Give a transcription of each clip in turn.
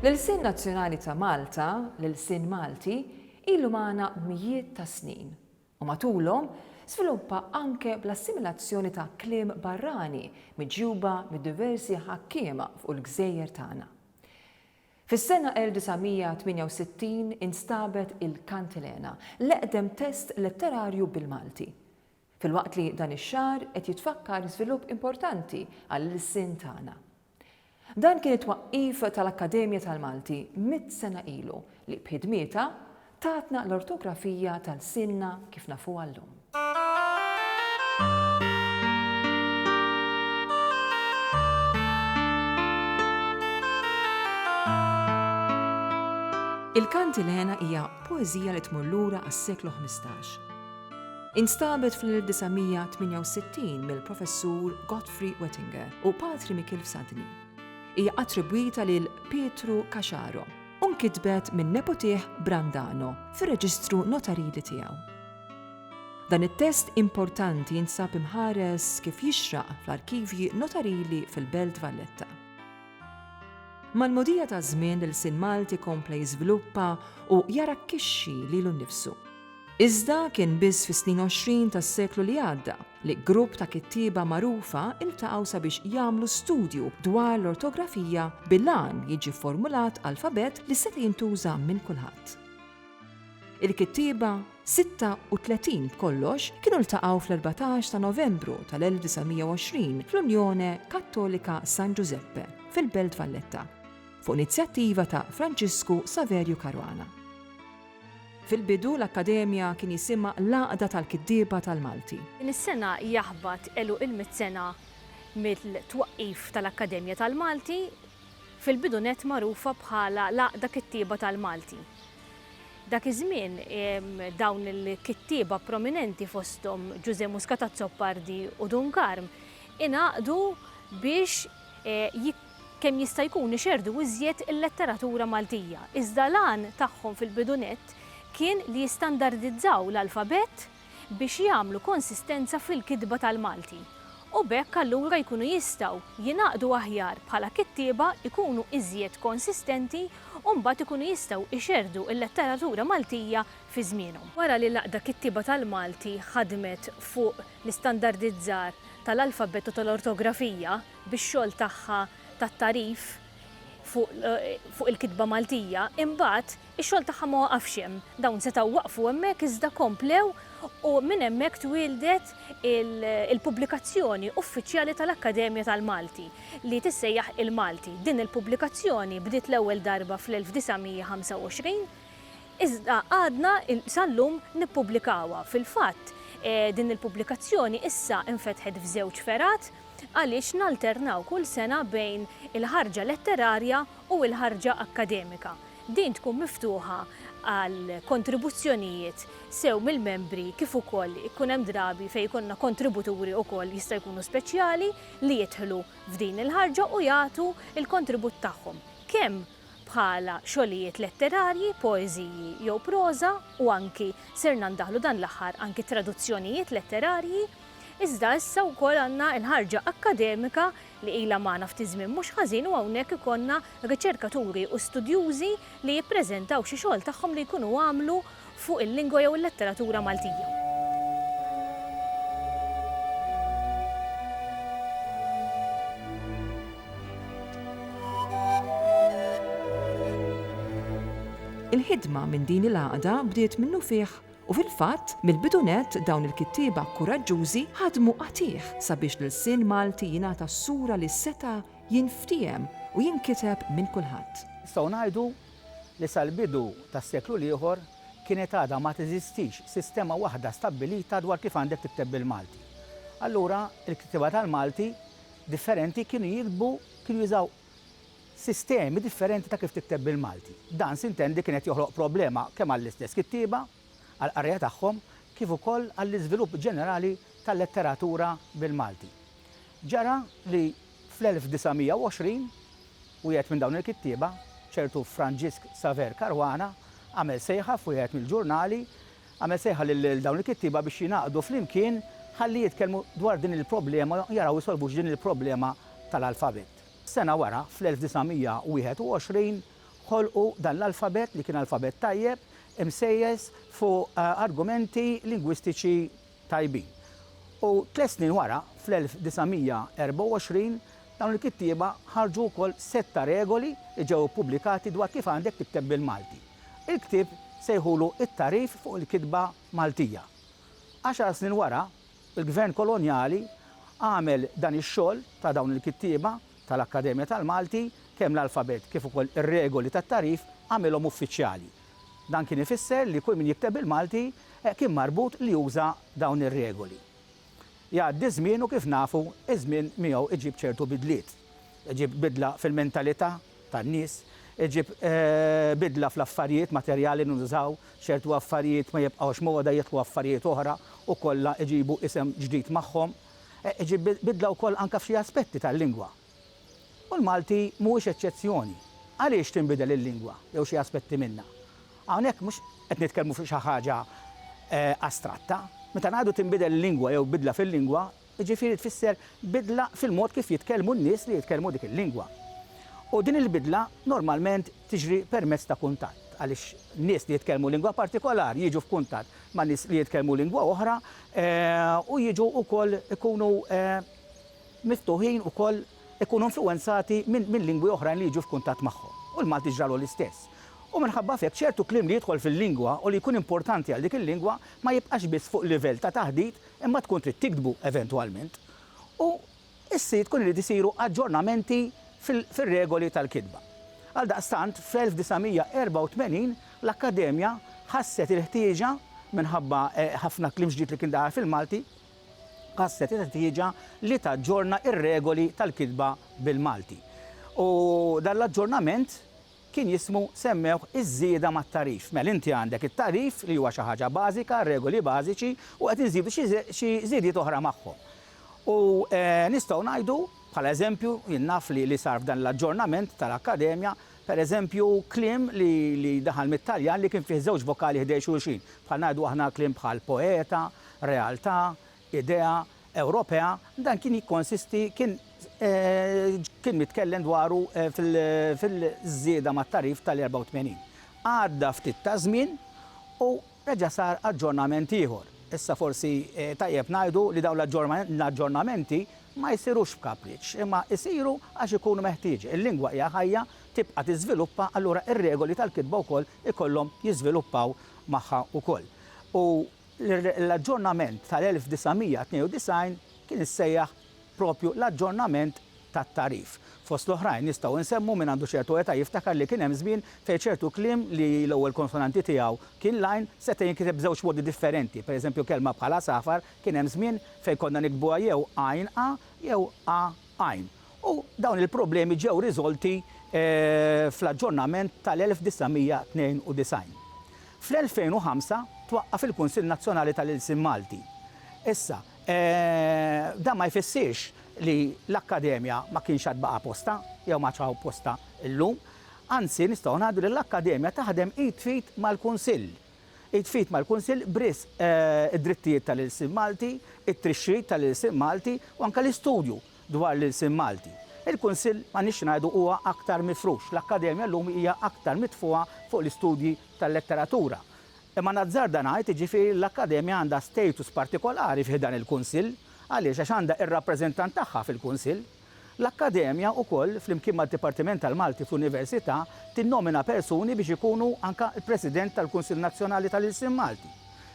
L-ilsien nazzjonali ta' Malta, l-ilsien Malti, ilu magħna b'mijiet ta' snin, u matulhom żviluppa anke bl-assimilazzjoni ta' kliem barrani miġjuba mid-diversi ħakkiema fuq il-gżejjer tagħna. Fis-sena 1968 instabet il-Kantilena, l-eqdem test letterarju bil-Malti. Filwaqt li dan ix-xahar qed jitfakkar żvilupp importanti għall-ilsien tagħna. Dan kien it-twaqqif tal-Akkademja tal-Malti mitt sena ilu li b'ħidmietha tatna l-ortografija ta' lsienna kif nafuha llum. Il-Kantilena hija poeżija li tmur lura għas-seklu ħmistax. Instabet fl-1968 mill-Professur Godfrey Wettinger u Patri Mikiel Fsadni. Hija attribwita lil Pietru Caxaro u nkitbet minn nepotih Brandano fir-reġistru notarili tiegħu. Dan it-test importanti jinsab imħares kif jixraq fl-arkivji notarili fil-Belt Valletta. Mal-mogħdija taż-żmien l-ilsien Malti kompla jiżviluppa u jarakkixxi lilu nnifsu. Iżda kien biss fis-snin għoxrin tas-seklu li għadda li grupp ta' kittieba magħrufa ltaqgħu sabiex jagħmlu studju dwar l-ortografija bil-għan li jiġi fformulat alfabett li seta' jintuża minn kulħadd. Il-kittieba, 36 b'kollox, kienu ltaqgħu fl-erbatax ta' Novembru tal-1920 fl-Unione Cattolica San Giuseppe fil-Belt Valletta, fuq inizjattiva ta' Franġisku Saverju Caruana. Fil-bidu, l-Akkademja kien jisimha l-Għaqda tal-Kittieba tal-Malti. Din is-sena jaħbat għeluq il-mitt sena mill-twaqqif tal-Akkademja tal-Malti, fil-bidu nett magħrufa bħala l-Għaqda Kittieba tal-Malti. Dak iż-żmien, dawn il-kittieba prominenti fosthom Ġużè Muscat Azzopardi u Dun Karm ingħaqdu biex kemm jista' jkun ixerrdu iżjed il-letteratura Maltija, iżda l-għan tagħhom fil-bidu nett kien li jistandardizzaw l-alfabett biex jagħmlu konsistenza fil-kitba tal-Malti u b'hekk allura jkunu jistgħu jingħaqdu aħjar bħala kittieba jkunu iżjed konsistenti u mbagħad ikunu jistgħu ixerrdu l-letteratura Maltija fi żmienhom. Wara li l-Għaqda Kittieba tal-Malti ħadmet fuq l-istandardizzar tal-alfabett u tal-ortografija, bix-xogħol tagħha tat-tagħrif fuq il-kitba Maltija, imbagħad ix-xogħol tagħha ma waqafx hemm. Dawn setgħu waqfu hemmhekk iżda komplew u minn hemmhekk twieldet il-pubblikazzjoni uffiċjali tal-Akkademja tal-Malti li tissejjaħ Il-Malti. Din il-pubblikazzjoni bdiet l-ewwel darba fl-1925 iżda għadna sal-lum nippubblikawha. Fil-fatt din il-pubblikazzjoni issa nfetħet f'żewġ fergħat. għaliex nalternaw kull sena bejn il-ħarġa letterarja u l-ħarġa akkademika. Din tkun miftuħa għal kontribuzzjonijiet sew mill-membri kif ukoll ikun hemm drabi fejn jkollna kontributuri ukoll jista' jkunu speċjali li jidħlu f'din il-ħarġa u jagħtu l-kontribut tagħhom kemm bħala xogħlijiet letterarji, poeżiji jew proża u anki sirna ndaħħlu dan l-aħħar anki traduzzjonijiet letterarji. Iżda issa wkoll għandna l-ħarġa akkademika li ilha magħna ftit żmien mhux ħażin u hawnhekk ikollna riċerkaturi u studjużi li jippreżentaw xi xogħol tagħhom li jkunu għamlu fuq il-lingwa jew il-letteratura Maltija. Il-ħidma minn din il-għaqda bdiet minnufih U fil-fatt, mill-bidu nett dawn il-kittieba kuraġġużi ħadmu qatigħ sabiex l-ilsien Malti jingħata s-sura li seta' jinftiehem u jinkiteb minn kulħadd. Nistgħu ngħidu li sal-bidu tas-seklu l-ieħor kienet għadha ma teżistix sistema waħda stabbilita dwar kif għandek tikteb bil-Malti. Allura, il-kittieba tal-Malti differenti kienu jiktbu, kienu jużaw sistemi differenti ta' kif tikteb bil-Malti. Dan s'intendi kien qed joħloq problema kemm għall-istess kittieba, għall-qarrejja tagħhom, kif ukoll għall-iżvilupp ġenerali tal-letteratura bil-Malti. Ġara li fl-1920, wieħed minn dawn il-kittieba, ċertu Franġisk Saver Caruana, għamel sejħa f'wieħed mill-ġurnali, għamel sejħa lil dawn il-kittieba biex jingħaqdu flimkien ħalli jitkellmu dwar din il-problema u jaraw isolvux din il-problema tal-alfabet. Sena wara, fl-1921, ħolqu dan l-alfabett li kien alfabett tajjeb, imsejjes fuq argumenti lingwistiċi tajbin. U tliet snin wara, fl-1924, dawn il-kittieba ħarġu wkoll sett ta' regoli li ġew ippubblikati dwar kif għandek tikteb bil-Malti. Il-ktieb sejħulu It-Tagħrif fuq il-Kitba Maltija. Għaxar snin wara, Il-Gvern kolonjali għamel dan ix-xogħol ta' dawn il-kittieba tal-Akkademja tal-Malti, kemm l-alfabet kif ukoll ir-regoli tat-tagħrif għamilhom uffiċjali. Dan kien ifisser li kull min jikteb bil-Malti kien marbut li juża dawn ir-regoli. Jgħaddi ż-żmien u kif nafu ż-żmien miegħu iġib ċertu bidliet. Iġib bidla fil-mentalità tan-nies, iġib bidla fl-affarijiet materjali li nużaw, ċertu affarijiet ma jibqgħux moda jidħlu affarijiet oħra u kollha jġibu isem ġdid magħhom. Iġib bidla wkoll anke f'xi aspetti tal-lingwa. U l-Malti mhuwiex eċċezzjoni. Għaliex tinbidel il-lingwa jew xi aspetti minnha? Hawnhekk mhux qed nitkellmu fuq xi ħaġa astratta. Meta ngħidu tinbidel il-lingwa jew bidla fil-lingwa, jiġifieri tfisser bidla fil-mod kif jitkellmu n-nies li jitkellmu dik il-lingwa. U din il-bidla normalment tiġri permezz ta' kuntatt, għaliex nies li jitkellmu lingwa partikolari jiġu f'kuntatt ma' nies li jitkellmu lingwa oħra u jiġu wkoll ikunu miftuħin ukoll ikunu influwenzati minn lingwi oħrajn li jiġu f'kuntatt magħhom. U l-Malti ġralu l-istess. U minħabba f'hekk ċertu kliem li jidħol fil-lingwa u li jkun importanti għal dik il-lingwa ma jibqax biss fuq livell ta' taħdit Imma tkun trid tiktbu eventwalment u issi tkun irid isiru aġġornamenti fil-regoli tal-kitba. Għaldaqstant, fl-1984 l-Akkademja ħasset il-ħtieġa, minħabba ħafna kliem ġdid li kien daħal fil-Malti, ħasset il-ħtieġa li taġġorna r-regoli tal-kitba bil-Malti. U dan l-aġġornament kien jismu semmewh iż-żieda mat-tagħrif. Mela inti għandek it-tagħrif li huwa xi ħaġa bażika, regoli bażiċi u qed inżidu xi żidiet oħra magħhom. U nistgħu ngħidu bħala eżempju, jien naf li sar f'dan l-aġġornament tal-Akkademja, pereżempju kliem li daħal mit-Taljan li kien fih żewġ vokali ħdej xulxin, bħal ngħidu aħna kliem bħal poeta, realtà, idea Ewropea, dan kien jikkonsisti kien kien mitkellem dwaru fil fil-żieda mat-tagħrif tal-84. Għadda ftit taż-żmien u reġa' sar aġġornament ieħor. Issa forsi tajjeb ngħidu li dawn l-aġġornamenti ma jsirux b'kapriċċ, imma jsiru għax ikunu meħtieġa. Il-lingwa hija ħajja, tibqa' tiżviluppa, allura r-regoli tal-kitba wkoll ikollhom jiżviluppaw magħha wkoll. U L-aġġornament tal-1992 kien issejjaħ propju l-aġġornament tat-tagħrif. Fost l-oħrajn nistgħu insemmu min għandu ċertu età jiftakar li kien hemm żmien fejn ċertu kliem li l-ewwel konsonanti tiegħu kien l-għajn seta' jinkiteb b'żewġ modi differenti. Pereżempju kelma bħal għasafar kien hemm żmien fejn konna niktbuha jew għajn a jew a għajn, u dawn il-problemi ġew riżolti fl-aġġornament tal-1992. Fl-2005 twaqqaf il-Kunsill Nazzjonali tal-Ilsien Malti. Issa, dan ma jfissirx li l-Akkademja ma kienx għad baqa' postha jew m'għadx hawn postha llum. Anzi, nistgħu ngħidu li l-Akkademja taħdem id f'id mal-Kunsill. Id f'id mal-Kunsill b'risq id-drittijiet tal-ilsien Malti, it-trixxit tal-ilsien Malti u anke l-istudju dwar l-ilsien Malti. Il-Kunsill, ma nix ngħidu, huwa aktar mifrux. L-Akkademja llum hija aktar mitfugħa fuq l-istudji tal-letteratura. Imma nazzarda ngħid, jiġifieri, li l-Akkademja għandha status partikolari fi ħdan il-Kunsill. Għaliex? Għax għandha r-rappreżentant tagħha fil-Kunsill. L-Akkademja wkoll, flimkien mad-Dipartiment tal-Malti fl-Università, tinnomina persuni biex ikunu anke l-President tal-Kunsill Nazzjonali tal-Ilsien Malti.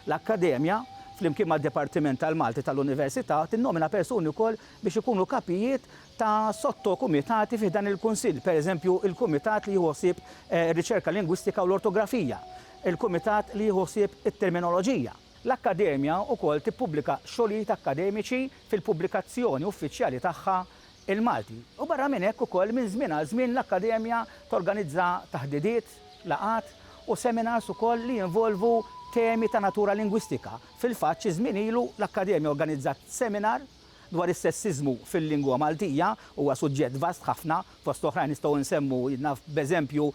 L-Akkademja, flimkien mad-Dipartiment tal-Malti tal-Università, tinnomina persuni wkoll biex ikunu kapijiet ta' sotto-kumitati fi ħdan il-Kunsill, pereżempju, il-Kumitat li jieħu ħsieb ir-Riċerka Lingwistika u l-Ortografija, il-Kumitat li jieħu ħsieb it-Terminoloġija. L-Akkademja wkoll tippubblika xogħlijiet akkademiċi fil-pubblikazzjoni uffiċjali tagħha Il-Malti. U barra minn hekk ukoll minn żmien għal żmien l-Akkademja torganizza taħdidiet, laqgħat u seminars ukoll li jinvolvu temi ta' natura lingwistika. Fil-fatt xi żmien ilu l-Akkademja organizzat seminar dwar is-sessiżmu fil-lingwa Maltija huwa suġġett vast ħafna, fost oħrajn nistgħu nsemmu, naf b'eżempju,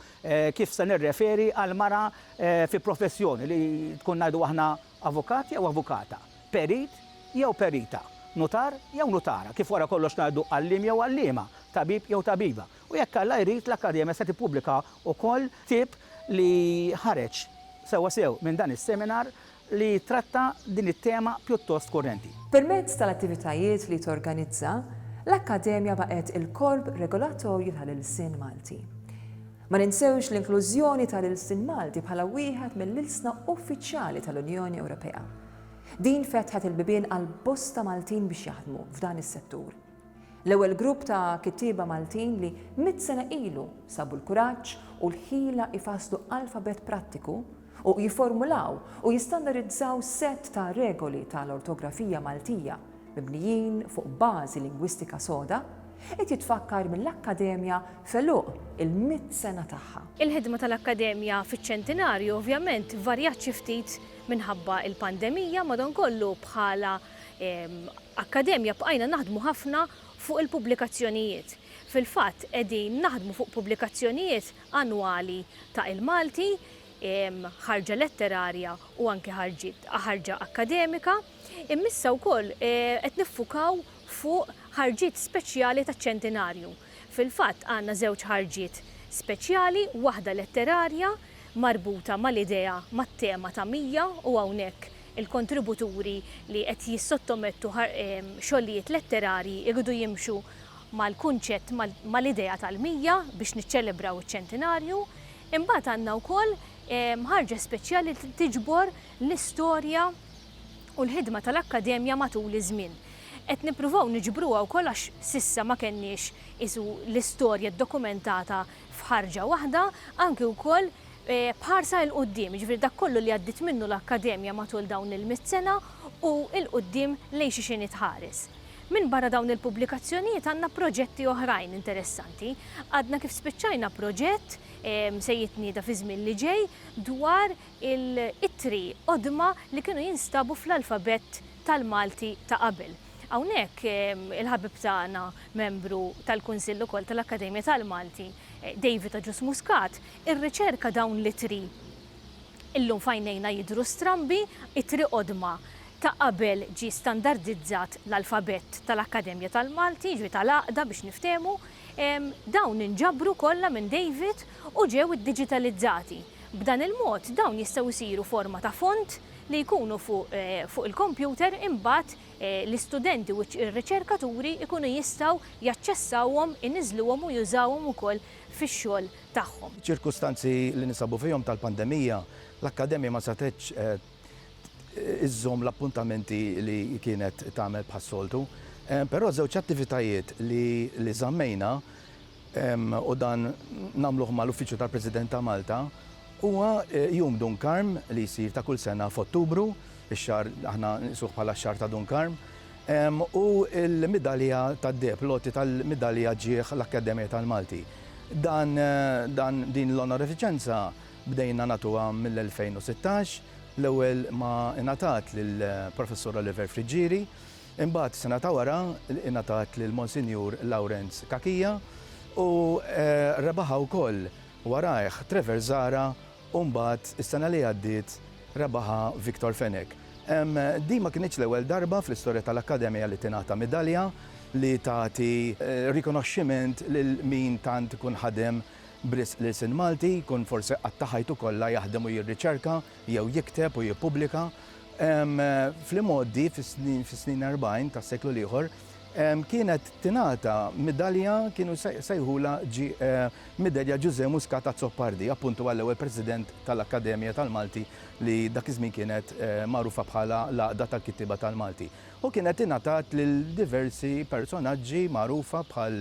kif se nirreferi għal mara fi professjoni li tkun ngħidu aħna avukat jew avukata, perit jew perita, nutar jew nutara, kif wara kollox ngħidu għalliem jew għalliema, tabib jew tabiba. U jekk Alla jrid, l-Akkademja se tippubblika wkoll ktieb li ħareġ sewwasew minn dan is-seminar li jittratta din it-tema pjuttost kurrenti. Permezz tal-attivitajiet li torganizza, l-Akkademja baqgħet il-korp regolatorju tal-ilsien Malti. Ma ninsewx l-inklużjoni tal-ilsien Malti bħala wieħed mill-ilsna uffiċjali tal-Unjoni Ewropea. Din fetħet il-bibien għal bosta Maltin biex jaħdmu f'dan is-settur. L-ewwel grupp ta' kittieba Maltin li mitt sena ilu sabu l-kuraġġ u l-ħila jfasslu alfabett prattiku, u jifformulaw u jistandarizzaw sett ta' regoli ta' l-ortografija Maltija mibnijin fuq bażi lingwistika soda, qed jitfakkar mill-Akkademja f'għeluq il-mitt sena tagħha. Il-ħidma ta' l-Akkademja fiċ-Ċentinarju ovvjament varjat xi ftit minħabba l-pandemija, madankollu bħala Akkademja bqajna naħdmu ħafna fuq il-pubblikazzjonijiet. Fil-fatt qegħdin naħdmu fuq pubblikazzjonijiet annwali ta' Il-Malti, ħarġa letterarja u anke ħarġiet ħarġa akkademika. Imma issa wkoll qed niffukaw fuq ħarġiet speċjali taċ-Ċentinarju. Fil-fatt għandna żewġ ħarġiet speċjali, waħda letterarja marbuta mal-idea, mat-tema ta' 100 u hawnhekk il-kontributuri li qed jissottomettu xogħlijiet letterarji jridu jimxu mal-kunċett, mal-idea tal-100 biex niċċelebraw iċ-ċentinarju. Imbagħad għandna wkoll ħarġa speċjali li tiġbor l-istorja u l-ħidma tal-Akkademja matul iż-żmien. Qed nippruvaw niġbruha wkoll għax s'issa ma kellniex qisu l-istorja ddokumentata f'ħarġa waħda, anki wkoll b'ħarsa 'il quddiem, jiġifieri dak kollu li għaddiet minnu l-Akkademja matul dawn il-mitt sena u 'il quddiem lejn xiex inhi tħares. Minbarra dawn il-pubblikazzjonijiet għandna proġetti oħrajn interessanti. Għadna kif spiċċajna proġett se jitnieda fiż-żmien li ġej dwar il-ittri qodma li kienu jinstabu fl-alfabett tal-Malti ta' qabel. Hawnhekk il-ħabib tagħna membru tal-Kunsill ukoll tal-Akkademja tal-Malti, David Agius Muscat, irriċerka dawn l-ittri illum f'għajnejna jidhru strambi, ittri qodma. Ta' qabel ġie standardizzat l-alfabett tal-Akkademja tal-Malti, jiġifieri tal-Għaqda biex niftehmu, dawn inġabru kollha minn David u ġew iddiġitalizzati. B'dan il-mod dawn jistgħu jsiru forma ta' font li jkunu fuq il-kompjuter imbagħad l-istudenti u r-riċerkaturi jkunu jistgħu jaċċessawhom, iniżżluhom u jużawhom ukoll fix-xogħol tagħhom. F'ċirkustanzi li ninsabu fihom tal-pandemija, l-Akkademja ma setgħetx iżżomm l-appuntamenti li kienet tagħmel bħas-soltu. Però żewġ attivitajiet li li żammejna u dan nagħmluh mal-Uffiċċju tal-President ta' Malta huwa Jum Dun Karm li jsir ta' kull sena f'Ottubru, ix-xahar aħna nqisuh bħala x-xahar ta' Dun Karm, u l-midalja tad-deheb, l-għoti tal-midalja ġieh l-Akkademja tal-Malti. Dan dan din l-onorifiċenza Bdejna nagħtuha mill-2016, l-ewwel ma ingħatat lill-Professur Oliver Friggieri, imbagħad sena ta' wara ingħatat lil Monsinjur Lawrenz Cachia u rebaħha wkoll warajh Trevor Zahra u mbagħad is-sena li għaddiet rebaħha Victor Fenech. Din ma kinitx l-ewwel darba fl-istorja tal-Akkademja li tingħata midalja li tagħti rikonoxximent lil min tant ikun ħadem b'risq l-ilsien Malti jkun forsi qatta' ħajtu kollha jaħdem u jirriċerka jew jikteb u jippubblika. Fl-imgħoddi, fis-snin erbgħin tas-seklu l-ieħor, kienet tingħata midalja, kienu jsejħulha Midalja Ġużè Muscat Azzopardi, appuntu għall-ewwel President tal-Akkademja tal-Malti li dak iż-żmien kienet magħrufa bħala l-Għaqda tal-Kittieba tal-Malti. U kienet ingħatat lil diversi personaġġi magħrufa bħal